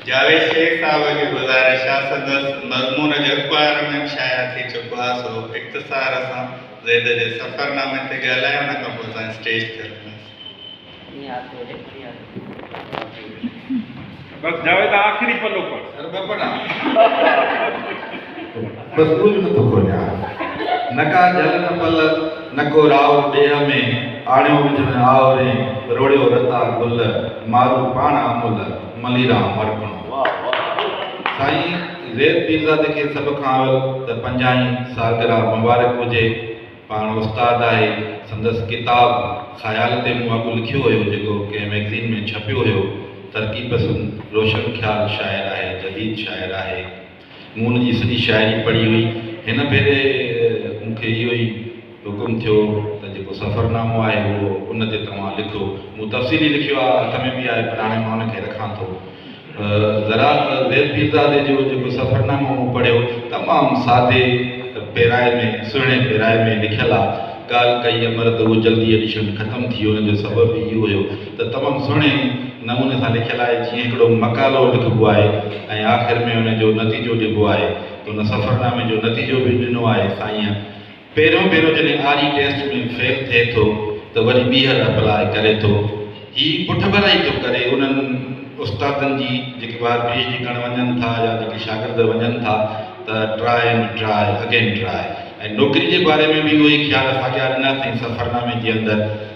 جاويد شيخ صاحب جي گذارش آ سندس مضمون جو اخبار ۾ به شايع ٿي چڪو آ سو اختصار سان زيد جي سفر نامي تي ڳالهائي ان کان پوء اسان اسٽيج تي رکنداسين. بس جاويد آخري پنو پڙهه. بس ڪجهه نه ٿو ڳوليان. نه ڪا جهل نه پل، نه ڪو راء ڏيهه ۾، آڻيو وجهه ۾ آء رين، روڙيو رتا گل، مارو پاڻ آمل، ملي ران مرڪڻو. سائين زيد پيرزادي کي سڀ کان اول ته پنجاهين سالگرهه مبارڪ هجي. پاڻ استاد آهي، سندس ڪتاب خيال تي مون اڳ لکيو هيو جيڪو ڪنهن مئگزين ۾ ڇپيو هيو، ترقي پسند روشن خيال شاعر آهي، جديد شاعر آهي. مون هن جي سڄي شاعري پڙهي هئي. هن ڀيري مون کي اهو ئي حڪم ٿيو ته جيڪو سفرنامو آهي اهو ان تي توهان لکو. مون تفصيلي لکيو آهي، هٿ ۾ به آهي پر هاڻي مان ان کي رکان ٿو. ذرا زيد پيرزادي جو جيڪو سفرنامو مون پڙهيو، تمام سادي پيرائي ۾، سهڻي پيرائي ۾، لکيل آهي. ڳالهه ڪئي امر ته اهو جلدي ايڊيشن ختم ٿي ويو، ان جو سبب به اهو هيو. ته تمام سهڻي نموني سان لکيل آهي جيئن هڪڙو مقالو لکبو آهي ۽ آخر ۾ ان جو نتيجو ڏبو آهي ته ان سفرنامي جو نتيجو به ڏنو آهي سائين پهريون ڀيرو جڏهن آري ٽيسٽ ۾ فيل ٿئي ٿو ته وري ٻيهر اپلاء ڪري ٿو هي پٺڀرائي ٿو ڪري انهن استادن جي جيڪي ٻاهر پي ايڇ ڊي ڪرڻ وڃن ٿا يا جيڪي شاگرد وڃن ٿا ته try and try again try ۽ نوڪري جي باري ۾ به اهو ئي خيال اسان ڏياريندا سائين سفرنامي جي اندر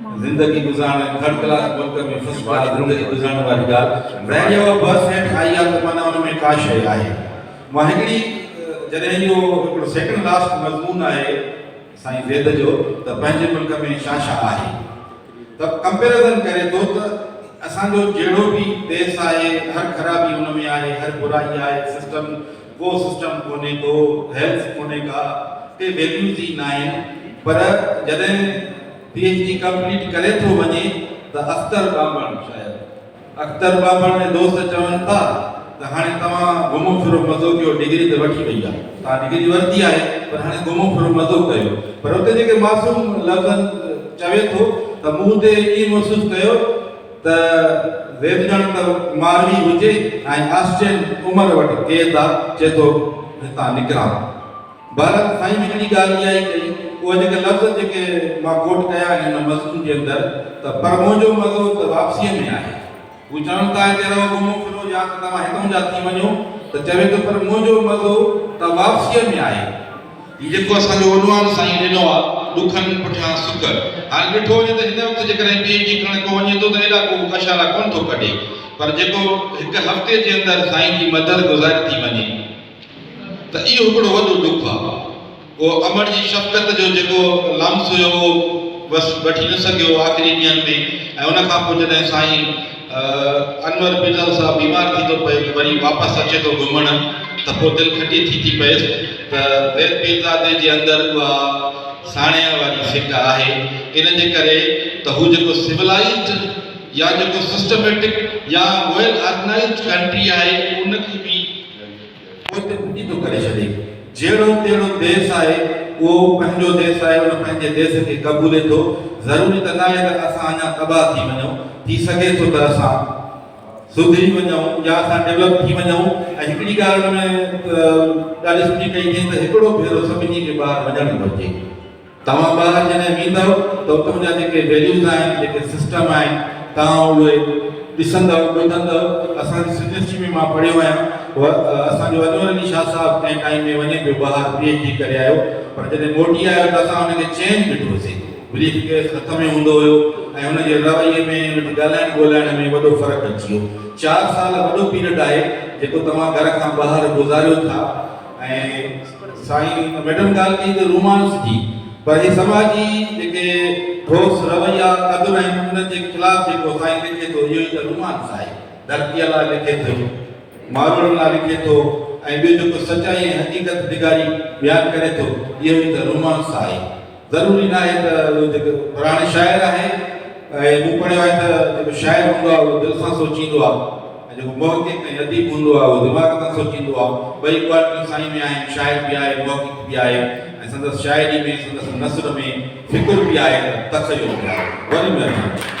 زندگي گذارڻ ۽ ٿرڊ ڪلاس ملڪ ۾ فرسٽ ڪلاس زندگي گذارڻ واري ڳالهه وين يا بس هيٺ آئي آ ته معنيٰ ان ۾ ڪا شيء آهي مان هڪڙي جڏهن اهو هڪڙو سيڪنڊ لاسٽ مضمون آهي سائين زيد جو ته پنهنجي ملڪ ۾ ڇا ڇا آهي ته ڪمپيرزن ڪري ٿو ته اسان جو جهڙو به ديس آهي هر خرابي ان ۾ آهي هر برائي آهي سسٽم ڪو سسٽم ڪونهي ڪو هيلٿ ڪونهي ڪا ڪي ويليوز ئي ناهن پر جڏهن پي ايڇ ڊي ڪمپليٽ ڪري ٿو وڃي ته اختر ٻانڀڻ شايد اختر ٻانڀڻ ۽ دوست چون ٿا ته هاڻي توهان گهمو ڦرو مزو ڪيو ڊگري ته وٺي وئي آهي توهان ڊگري ورتي آهي پر هاڻي گهمو ڦرو مزو ڪيو پر اتي جيڪي معصوم لفظن چوي ٿو ته مون اتي ائين محسوس ڪيو ته ويم ڄڻ ته ماروي هجي ۽ آسٽين عمر وٽ قيد آ، چئي ٿو هتان نڪران. بهرحال سائين هڪڙي ڳالهه اها ئي ڪئي، اهي جيڪي لفظ جيڪي مان ڪوٽ ڪيا آهن ان مضمون جي اندر ته پر منهنجو مزو ته واپسيء ۾ آهي. هو چون ٿا هتي رهو گهمو ڦرو يا ته توهان هتان جا ٿي وڃو ته چوي ٿو پر منهنجو مزو ته واپسيء ۾ آهي. هي جيڪو اسان جو وڏوان سائين ڏنو آ ڏکن پٺيان سک. هاڻي ڏٺو وڃي ته هن وقت جيڪڏهن پي ايڇ ڊي ڪرڻ ڪو وڃي ٿو ته ايڏا ڪو اشارا ڪونه ٿو ڪڍي پر جيڪو هڪ هفتي جي اندر سائين جي مدد گذاري ٿي وڃي ته اهو هڪڙو وڏو ڏک آ. اهو امڙ جي شفقت جو جيڪو لمس هيو اهو بس وٺي نه سگهيو آخري ڏينهن ۾ ۽ ان کان پوء جڏهن سائين انور بلال صاحب بيمار ٿي ٿو پئي وري واپس اچي ٿو گهمڻ ته پوء دل کٽي ٿي ٿي پئيس ته زيد پيرزادي جي اندر اها ساڻيهه واري سٽ آهي ان جي ڪري ته هو جيڪو سولائيزڊ يا جيڪو سسٽميٽڪ يا ويل آرگنائيزڊ ڪنٽري آهي ان کي به پوئتي ڦٽي ٿو ڪري ڇڏي. جهڙو تهڙو ديس آهي، اهو پنهنجو ديس آهي، ان پنهنجي ديس کي قبولي ٿو. ضروري ته ناهي ته اسان اڃا تباهه ٿي وڃون، ٿي سگهي ٿو ته اسان سڌري وڃون يا اسان ڊولپ ٿي وڃون ۽ هڪڙي ڳالهه ان ۾ ڏاڍي سٺي ڪئي اٿئين ته هڪڙو ڀيرو سڀني کي ٻاهر وڃڻ گهرجي. توهان ٻاهر جڏهن ويندؤ ته اتان جا جيڪي ويليوز آهن، جيڪي سسٽم آهن، توهان اهي ڏسندؤ، ٻڌندؤ. اسان جي سنڌيسٽري ۾ مان پڙهيو آهيان، اسان جو انور علي شاهه صاحب ڪنهن ٽائيم ۾ وڃي پيو ٻاهر پي ايڇ ڊي ڪري آيو، پر جڏهن موٽي آيو ته اسان هن کي چينج ڏٺوسين، بريف ڪيس هٿ ۾ هوندو هيو ۽ هن جي رويي ۾ هن جي ڳالهائڻ ٻولهائڻ ۾ وڏو فرق اچي ويو. چار سال وڏو پيريڊ آهي جيڪو توهان گهر کان ٻاهر گذاريو ٿا. ۽ سائين ميڊم ڳالهه ڪئي ته رومانس جي پر هي سماجي جيڪي ٺوس رويا قدر آهن انهن جي خلاف جيڪو سائين لکي ٿو اهو ئي ته رومانس آهي ڌرتيء لاء لکي ٿو ماروئڙن لاء لکي ٿو ۽ ٻيو جيڪو سچائي ۽ حقيقت نگاري بيان ڪري ٿو اهو ئي ته رومانس آهي. ضروري ناهي ته اهي جيڪي پراڻي شاعر آهن ۽ مون پڙهيو آهي ته جيڪو شاعر هوندو آهي اهو دل سان سوچيندو آهي ۽ جيڪو محقق ۽ اديب هوندو آهي اهو دماغ سان سوچيندو آهي ٻئي ڪوالٽيون سائين ۾ آهن شاعر به آهي محقق به آهي ۽ سندس شاعري ۾ سندس نثر ۾ فڪر به آهي ته تخيل به آهي وڏي مهرباني.